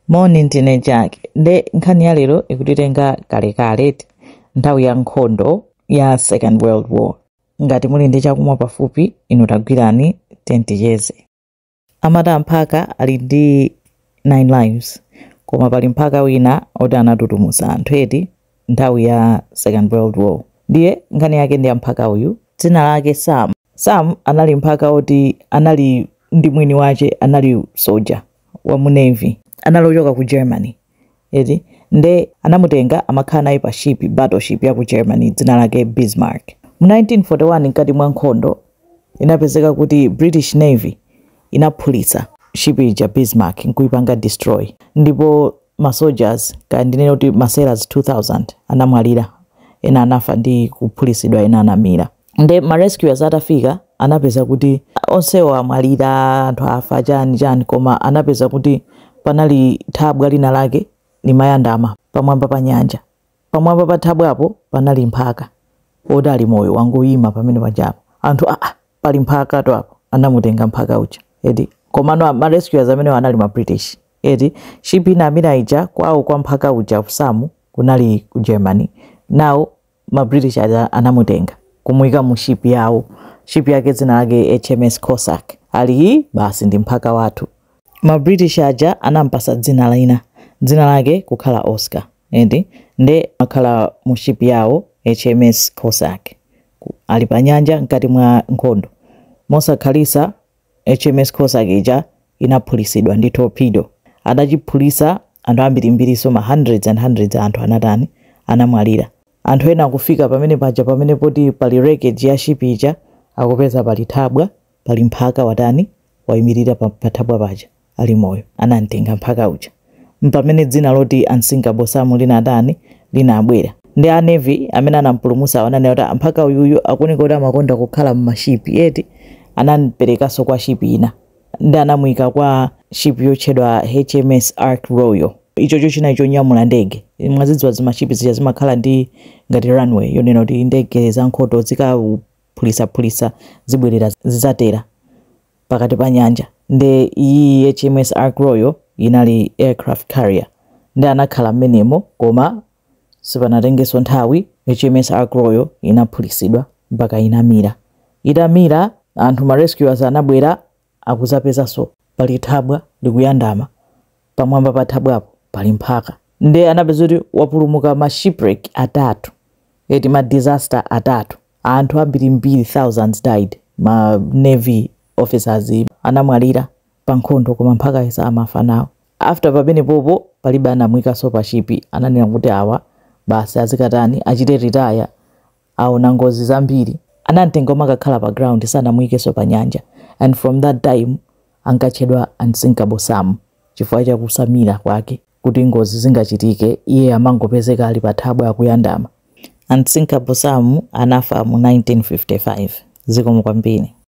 moni ndine jack nde nkhani ya lero ikutitenga kalekale ti nthawi ya nkhondo ya second world war ngati muli ndi chakumwa pafupi inu tagwirani teni ticheze amati mphaka ali ndi 9 lives koma pali mphaka wina oti anatutumuza anthu eti nthawi ya second world war ndiye nkhani yake ndi ya mphaka uyu dzina lake sam Sam anali mphaka woti anali ndi mwini wake anali soja wa mu navy anali ochoka ku Germany eti nde anamutenga amakhala naye pa ship battle ship ya ku Germany dzina lake Bismarck mu 1941 mkati mwa nkhondo inapezeka kuti British navy inaphulitsa ship ija Bismarck nkuipanga destroy ndipo ma soldiers kaya ndinene kuti ma sailors 2000 anamwalira ena anafa ndi kuphulitsidwa ena anamira. nde ma rescuers atafika anapeza kuti onsewo amwalira anthu afa chani chani koma anapeza kuti panali thabwa lina lake limayandama pamwamba pa nyanja pamwamba pa thabwapo panali mphaka oti ali moyo wangoyima pamene pajapo anthu aa pali mphaka to apo anamutenga mphaka uja eti komano ma rescuers amenewo anali ma british eti ship ina inamira ija kwawo kwa mphaka uja Sam kunali ku germany now ma British aja anamutenga kumuika mu ship yawo ship yake dzina lake HMS Cossack ali hi basi ndi mphaka wathu ma British aja anampasa dzina lina dzina lake kukhala Oscar eti nde wakhala mu ship yawo HMS Cossack ali pa nyanja mkati mwa nkhondo mosakhalisa HMS Cossack ija inaphulisidwa ndi torpedo. Atachiphulisa anthu ambirimbirinso ma hundreds and hundreds a anthu anatani? Anamwalira. Anthu ena akufika pamene paja pamene poti pali wreckage ya ship ija akupeza pali thabwa, pali mphaka watani? Waimirira pa, pa thabwa paja. ali moyo, anamtenga mphaka uja. Mpamene dzina loti unsinkable Sam linatani, linabwera. Nde a Navy amene anampulumutsawo ananena kuti "Ah, mphaka uyuyu akuoneka kuti amakonda kukhala m'ma ship, eti? Anamperekanso kwa ship ina. Nde anamuika kwa ship yotchedwa HMS Ark Royal. Ichocho chinali chonyamula ndege. Mwazidziwa zima ship zija zimakhala ndi ngati runway yonena kuti ndege zankhondo zikaphulisaphulisa zibwerera zizatera. pakati pa nyanja nde iyiyi HMS Ark Royal inali aircraft carrier nde anakhala mmenemo koma sipanatengeso nthawi HMS Ark Royal inaphulisidwa mpaka inamira. Itamira anthu ma rescuers anabwera akuzapezaso pali thabwa likuyandama pamwamba pa thabwapo pali mphaka nde anapeza kuti wapulumuka ma shipwreck atatu eti ma disaster atatu anthu ambirimbiri thousands died ma navy officers anamwalira pa nkhondo koma mphakayo samafa nawo after pamenepopo palibe anamuikanso pa shipi ananena kuti awa basi azikatani achite retire aona ngozi zambiri. Anamtenga amakakhala pa ground sanamuikenso pa nyanja and from that time ankatchedwa Unsinkable Sam chifukwa cha kusamira kwake kuti ngozi zingachitike iye amangopezeka ali pa thabwa akuyandama. Unsinkable Sam anafa mu 1955. Zikomo kwambiri.